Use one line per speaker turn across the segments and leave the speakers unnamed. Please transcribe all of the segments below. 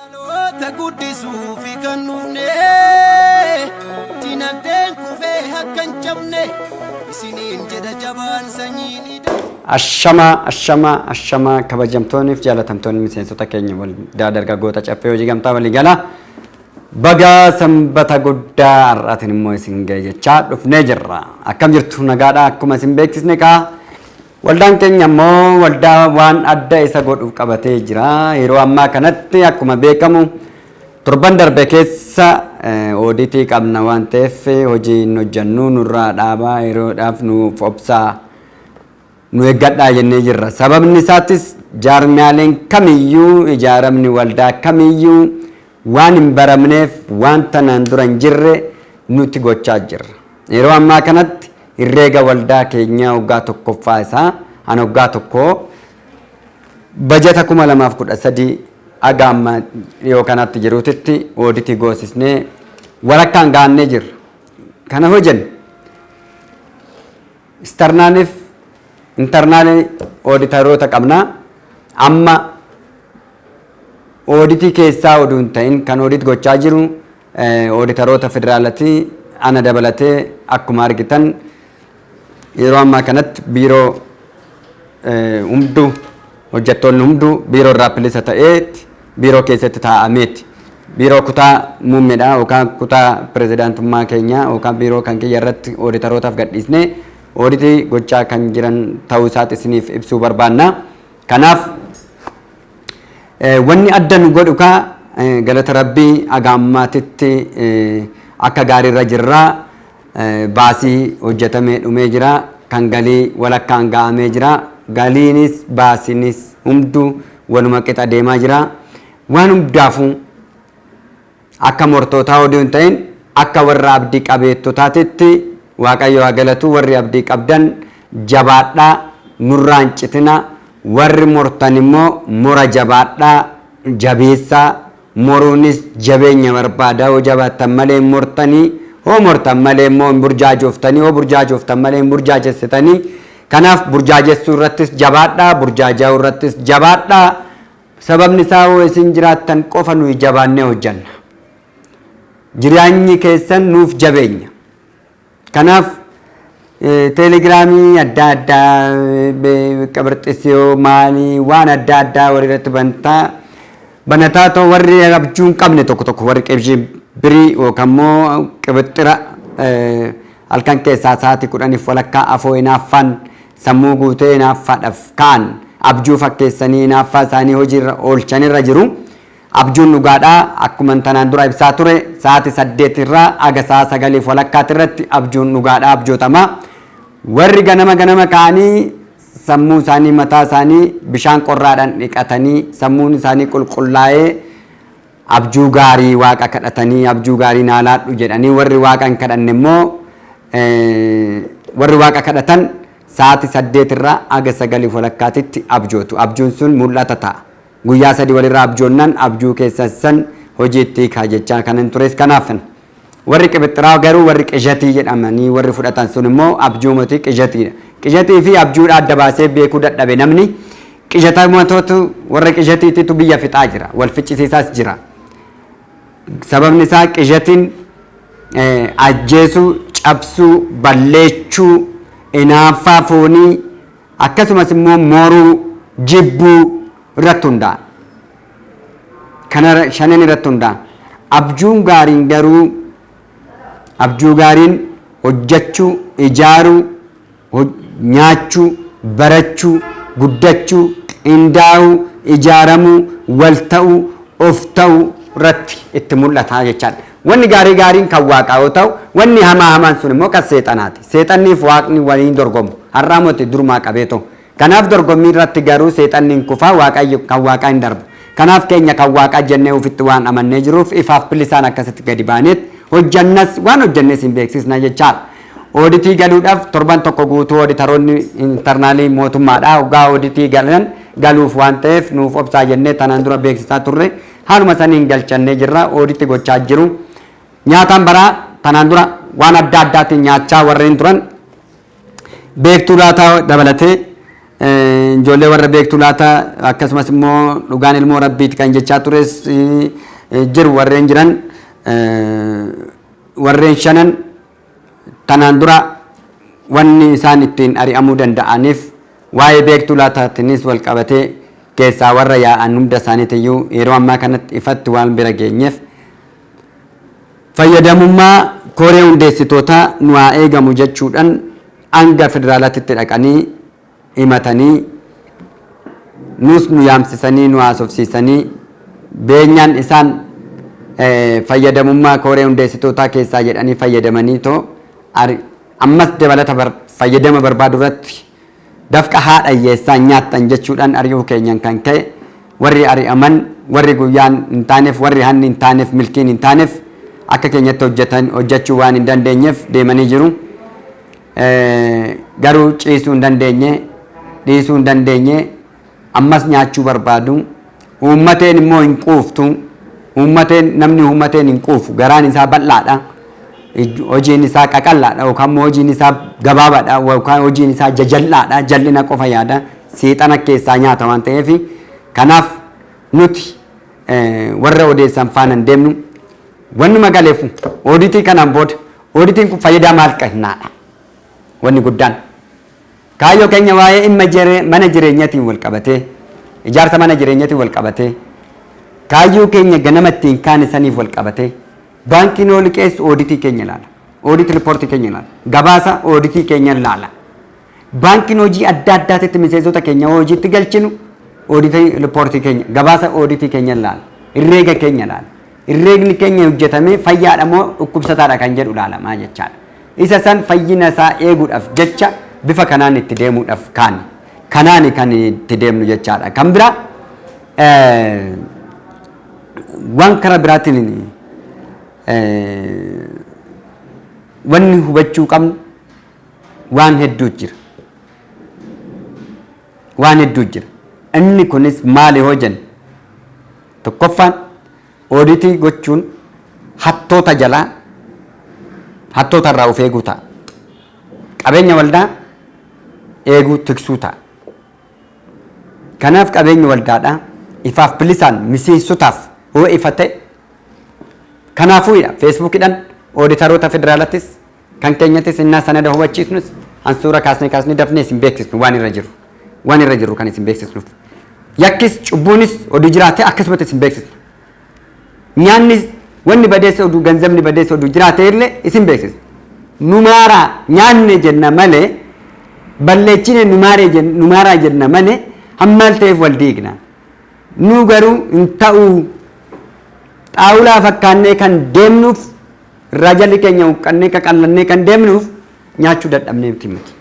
Dhaloota guddisuufi kan dhufne dinagdeen kufee akka hin cabne isiniin jedha jabaan sanyiin hidha. Ashama ashama ashama
kabajamtoonni fi jaalatamtoonni miseensota keenya waldaa dargaggoota caffee hojii gamtaa walii galaa bagaa sanbata guddaa har'aatiin immoo isin ga'e jechaa dhufnee jirra. Akkam jirtu nagaadhaa akkuma isin beeksisne kaa Waldaan keenya ammoo waldaa waan adda isa godhu qabatee jira. Yeroo ammaa kanatti akkuma beekamu torban darbe keessa ooditii qabna waan ta'eef hojii hin hojjannu nurraa dhaabaa yeroodhaaf nuuf obsaa nu eeggadhaa jennee jirra. Sababni isaatis jaarmiyaaleen kamiyyuu ijaaramni waldaa kamiyyuu Waan hin baramneef waan tanaan dura hin jirre nuti gochaa jirra. Yeroo ammaa kanatti Herreega Waldaa keenyaa waggaa tokkoffaa isaa an waggaa tokkoo bajata 2013 haga amma dhiyoo kanatti jiruutitti ooditii goosisnee walakkaan gahannee jirra. Kana hojenne. External fi internal ooditaroota qabna. Amma ooditii keessaa oduu hin ta'in kan oodit gochaa jiru ooditaroota federaalati. Ana dabalatee akkuma argitan yeroo ammaa kanatti biiroo hunduu hojjettoonni hunduu biiroo irraa bilisa ta'eetti Biiroo keessatti taa'ameetti. Biiroo kutaa muummedha yookaan kutaa pirezidaantummaa keenyaa yookaan biiroo kan kiyya irratti ooditarootaaf gadhiisnee ooditii gochaa kan jiran ta'uu isaati isiniif ibsuu barbaanna. Kanaaf wanni adda nu godhu kaa galata rabbii aga ammaatitti akka gaariirra jirra. Baasii hojjetamee dhumee jira. Kan galii walakkaan ga'amee jira. Galiinis baasiinis hunduu waluma qixa deemaa jira. Waan hundaafuu akka mortootaa odoo hin ta'in akka warra abdii qabeettotaatitti Waaqayyo haa galatu warri abdii qabdan jabaadhaa nurraa hin citina warri mortan immoo mora jabaadhaa jabeessaa Moruunis jabeenya barbaada. Hoo jabaattan malee hin mortanii, hoo mortan malee immoo hin burjaajoftanii, hoo burjaajoftan malee hin burjaajessitanii. Kanaaf burjaajessuu irrattis jabaadhaa, burjaajaa'uu irrattis jabaadhaa. Sababni isaa hoo isin jiraattan qofa nuyi jabaannee hojjanna. Jiraanyi keessan nuuf jabeenya. Kanaaf teelegiraamii adda addaa qabarxisiyoo maalii waan adda addaa warri irratti bantaa banataa ta'u warri abjuu hin qabne tokko tokko warri qibshii birii yookaan immoo qibixxira halkan keessaa sa'aatii kudhaniif walakkaa afoo hinaaffaan sammuu guutee hinaaffaadhaaf ka'an abjuu fakkeessanii hinaaffaa isaanii hojiirra oolchanirra jiru. Abjuun dhugaadha. Akkuman tanaan dura ibsaa ture sa'aati 8 irraa haga sa'a 9f walakkaati irratti abjuun dhugaadha abjootama. Warri ganama ganama ka'anii sammuu isaanii mataa isaanii bishaan qorraadhaan dhiqatanii sammuun isaanii qulqullaa'ee abjuu gaarii waaqa kadhatanii abjuu gaarii naa laadhu jedhanii warri waaqa hin kadhanne immoo warri waaqa kadhatan sa'aati 8 irraa haga 9f walakkaatitti abjootu. Abjuun sun mul'ata ta'a. Guyyaa sadii walirra abjoonnan abjuu keessan san hojiitti hiikaa jechaa kanan tures kanaaf. Warri qibixxiraa garuu warri qishatii jedhamanii warri fudhatan sun immoo abjuumoti qishatiidha. Qishatii fi abjuudha adda baasee beekuu dadhabe namni qishatamatoota warra qishatiititu biyya fixaa jira. Wal ficcisiisaas jira. Sababni isaa qishatiin ajjeesuu, cabsuu, balleechuu, inaaffaa foonii, Akkasumas immoo mooruu, jibbuu, irratti hundaa'a. Kana shanan irratti hundaa'a. Abjuun gaariin garuu abjuu gaariin hojjechuu, ijaaruu, nyaachuu, barachuu, guddachuu, qindaa'uu, ijaaramuu, wal ta'uu, of ta'uu irratti itti mul'ata jechaadha. Wanni gaarii gaariin kan Waaqaa yoo ta'u, wanni hamaa hamaan sun immoo kan Seexanaati. Seexannii fi Waaqni wal hin dorgomu. Har'aa moti durumaa qabeetoo. Kanaaf dorgommii irratti garuu Seexanni hin kufa, Waaqayyo, kan Waaqaa hin darba. Kanaaf keenya kan Waaqaa jennee ufitti waan amannee jiruuf ifaaf bilisaan akkasitti gadi baaneet hojjannas, waan hojjannes hin beeksisna jechaadha. Ooditii galuudhaaf torban tokko guutuu ooditaroonni internaalii mootummaadha. Hoggaa ooditii galan galuuf waan ta'eef nuuf obsaa jennee tanaan dura beeksisaa turre. Haaluma saniin galchannee jirra. Ooditti gochaa jiru. Nyaataan baraa tanaan dura waan adda addaatiin nyaachaa warreen turan beektuu laataa dabalatee eh, ijoollee warra beektuu laataa akkasumas immoo dhugaan ilmoo rabbiiti kan jechaa tures eh, jiru warreen jiran eh, warreen shanan Tanaan dura wanni isaan ittiin ari'amuu danda'aniif waa'ee beektuu laataatiinis wal qabatee keessaa warra yaa'an hunda isaaniitiyyuu yeroo ammaa kanatti ifatti waan bira geenyeef fayyadamummaa koree hundeessitootaa nu haa eegamu jechuudhan hanga federaalaatitti dhaqanii himatanii nuus nu yaamsisanii nu haasofsiisanii beenyaan isaan fayyadamummaa kooree hundeessitootaa keessaa jedhanii fayyadamanii too ammas dabalata fayyadama barbaadu irratti dafqa haadha hiyyeessaan nyaattan jechuudhaan ari'uu keenyan kan ka'e warri ari'aman warri guyyaan hin taaneef warri hanni hin taaneef milkiin hin taaneef akka keenyatti hojjechuu waan hin dandeenyeef deemanii jiru. Garuu ciisuu hin dandeenye, dhiisuu hin dandeenye, ammas nyaachuu barbaadu. Uummateen immoo hin quuftu. Uummateen namni uummateen hin quufu. Garaan isaa bal'aadha. Hojiin isaa qaqallaadha yookaan immoo hojiin isaa gabaabaadha yookaan hojiin isaa jajal'aadha. Jal'ina qofa yaada. Seexana keessaa nyaata waan ta'eef kanaaf nuti warra odeessan faana hin deemnu. Wannuma galeef ooditii kanaan booda Ooditiin kun fayyidaa maal qahnaadha? Wanni guddaan kaayyoo keenya waa'ee imma jere mana jireenyatiin wal qabatee, ijaarsa mana jireenyatiin wal qabatee, kaayyoo keenya ganama ittiin kaane saniif wal qabatee, baankiin yoo liqeessu ooditii keenya ilaala. Oodit ripoortii keenya ilaala. Gabaasa ooditii keenya ilaala. Baankiin hojii adda addaatitti miseensota keenya yoo hojiitti galchinu ooditii riippoortii keenya gabaasa ooditii keenya ilaala. Herreega keenya ilaala. Herreegni keenya hojjetamee fayyaadha moo dhukkubsataadha kan jedhu ilaalamaa jechaadha. Isa san fayyina isaa eeguudhaaf jecha bifa kanaan itti deemuudhaaf kaane. Kanaani kan itti deemnu jechaadha. Kan biraa waan karaa biraatiin wanni hubachuu qabnu waan hedduu jira. Waan hedduu jira. Inni kunis maali hoo jennu? Tokkoffaan ooditii gochuun hattoota jalaa hattoota irraa of eeguu ta'a. Qabeenya waldaa eeguu tiksuu ta'a. Kanaaf qabeenyi waldaadhaa ifaaf bilisaan miseensotaaf yoo ifa ta'e kanaafuudha feesbuukidhaan ooditaroota federaalatis Kan keenyattis innaa sanada hubachiisnus hansuura kaasne kaasne dafnee isin beeksisnu waan irra jiru. Waan irra jiru kan isin beeksisnuuf. Yakkis cubbuunis oduu jiraate akkasumatti isin beeksisna. Nyaanni wanni badeessa oduu ganzabni badeessa oduu jiraate illee isin beeksisna. Numaara nyaanne jenna malee balleechine numaaree jen- numaaraa jenna malee hammaal ta'eef wal diigna. Nu garuu hin ta'uu xaawulaa fakkaannee kan deemnuuf Irraa jalli keenya huqqannee qaqallannee kan deemnuuf nyaachuu dadhabnee miti miti.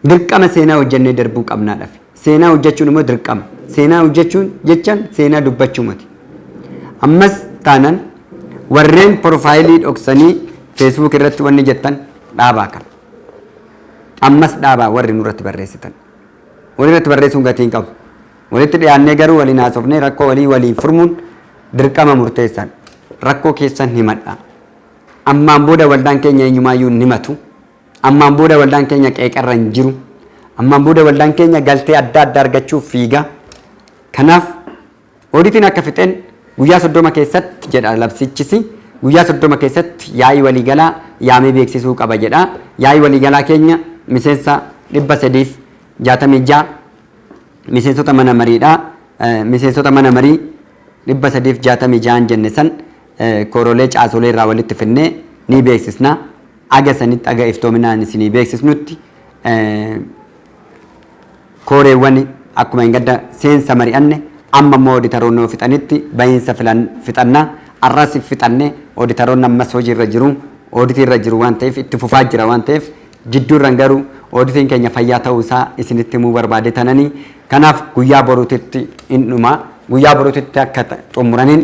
Dirqama seenaa hojjennee darbuu qabnaadhaaf. Seenaa hojjechuun immoo dirqama. Seenaa hojjechuun jechaan seenaa dubbachuu miti. Ammas taanan warreen porofaayilii dhoksanii feesbuuk irratti wanni jettan dhaabaa kan. Ammas dhaabaa warri nurratti barreessitan. Warri irratti barreessuun gatii hin qabu. Walitti dhiyaannee garuu waliin haasofnee rakkoo walii waliin furmuun dirqama murteessaadha. Rakkoo keessan himadhaa. Ammaan booda waldaan keenya eenyumaayyuu hin himatu. Ammaan booda waldaan keenya qeeqarra hin jiru. Ammaan booda waldaan keenya galtee adda addaa argachuuf fiiga. Kanaaf ooditiin akka fixeen guyyaa soddoma keessatti jedha labsichisi. Guyyaa soddoma keessatti yaa'ii waliigalaa yaamee beeksisuu qaba jedha. Yaa'ii waliigalaa keenya miseensa dhibba sadiif jaatamii ja'a Miseensota mana mariidhaa Miseensota mana marii 366n jenne san koorolee caasolee irraa walitti finnee ni beeksisna. Aga sanitti aga iftoominaan isinii beeksisnutti kooreewwan akkuma engadda seensa mari'anne amma immoo oditaroonni yoo fixanitti bahiinsa fixanna. Arras fixanne oditaroonni ammas hojii irra jiru. Ooditii irra jiru waan ta'eef itti fufaa jira waan ta'eef Jidduurran garuu Auditiin keenya fayyaa ta'uu isaa isinitti himuu barbaade tanani. Kanaaf guyyaa boruutitti in dhuma. Guyyaa boruutitti akka xumuraniin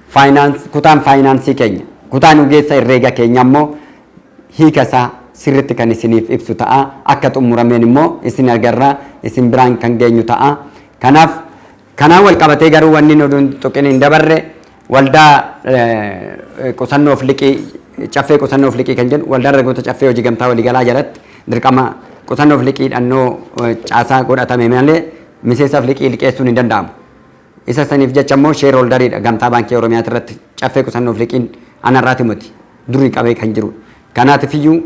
finance kutaan faayinaansii keenya kutaan ogeessa herreega keenya immoo hiika isaa sirritti kan isiniif ibsu ta'a. Akka xumurameen immoo isin agarra isin biraan kan geenyu ta'a. Kanaaf Kanaan walqabatee garuu wanni hin oduun tuqin hin dabarre waldaa qusannoof liqii caffee qusannoof liqii kan jennu waldaa dargaggoota caffee hojii gamtaa waliigalaa jalatti dirqama qusannoof liqii dhannoo caasaa godhatame malee miseensaaf liqii liqeessuun hin danda'amu. Isa saniif jecha immoo sheer holdariidha gamtaa baankii Oromiyaa irratti caffee qusannoof liqiin anarraati miti durii qabee kan jiru. Kanaatifiyyuu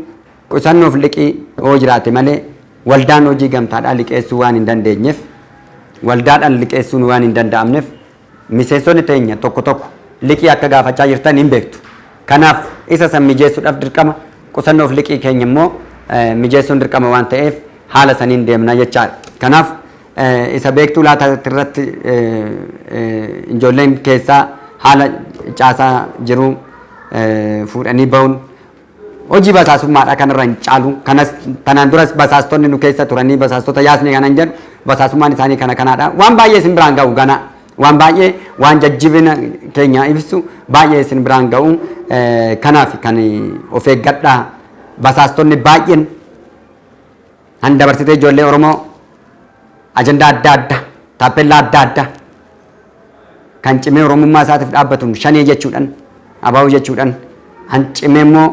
Qusannoof liqii yoo jiraate malee waldaan hojii gamtaadhaa liqeessuu waan hin dandeenyef waldaadhan liqeessuun waan hin danda'amnef miseensonni teenya tokko tokko liqii akka gaafachaa jirtan hin beektu. Kanaaf isa san mijeessudhaf dirqama qusannoof liqii keenya immoo mijeessuun dirqama waan ta'eef haala saniin deemna jechaadha. Kanaaf isa beektuu laata irratti ijoolleen keessaa haala caasaa jiruu fuudhanii ba'uun Hojii basaasummaadha kanarra hin caalu. Kanas tanaan duras basaastonni nu keessa turanii basaastota yaasne kanan jedhu basaasummaan isaanii kana kanaadha. Waan baay'ee isin biraan ga'u ganaa. Waan baay'ee waan jajjibina keenya ibsu baay'ee isin biraan ga'u kanaaf kan of eeggadhaa basaastonni baay'een Kan dabarsitee ijoollee Oromoo ajandaa adda addaa, taappellaa adda addaa kan cimee Oromummaa isaatiif dhaabbatuun shanee jechuudhaan, abaa'uu jechuudhaan, kan cimee immoo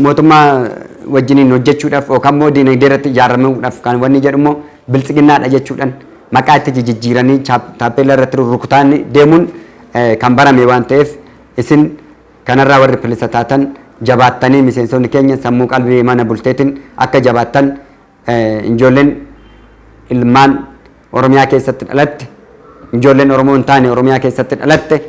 mootummaa wajjiniin hojjechuudhaaf yookaan immoo diinagdee irratti ijaaramuudhaaf kan wanni jedhu immoo biltsiginnaadha jechuudhaan maqaa itti jijjiiranii taappellaa irratti rukutaan deemuun kan barame waan ta'eef isin Kanarraa warri bilisa taatan jabaattanii miseensonni keenya sammuu qalbii mana bulteetiin akka jabaattan ijoolleen ilmaan Oromiyaa keessatti dhalatte ijoolleen Oromoo hin taane Oromiyaa keessatti dhalatte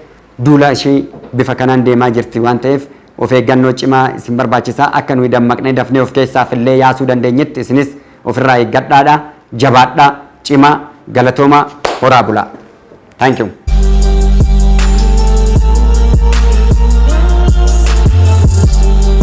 duula ishii bifa kanaan deemaa jirti waan ta'eef of eeggannoo cimaa isin barbaachisa akka nuyi dammaqnee dafnee of keessaaf illee yaasuu dandeenyetti isinis ofirraa eeggadhaadha jabaadhaa cimaa galatoomaa horaa bulaa. Thank you.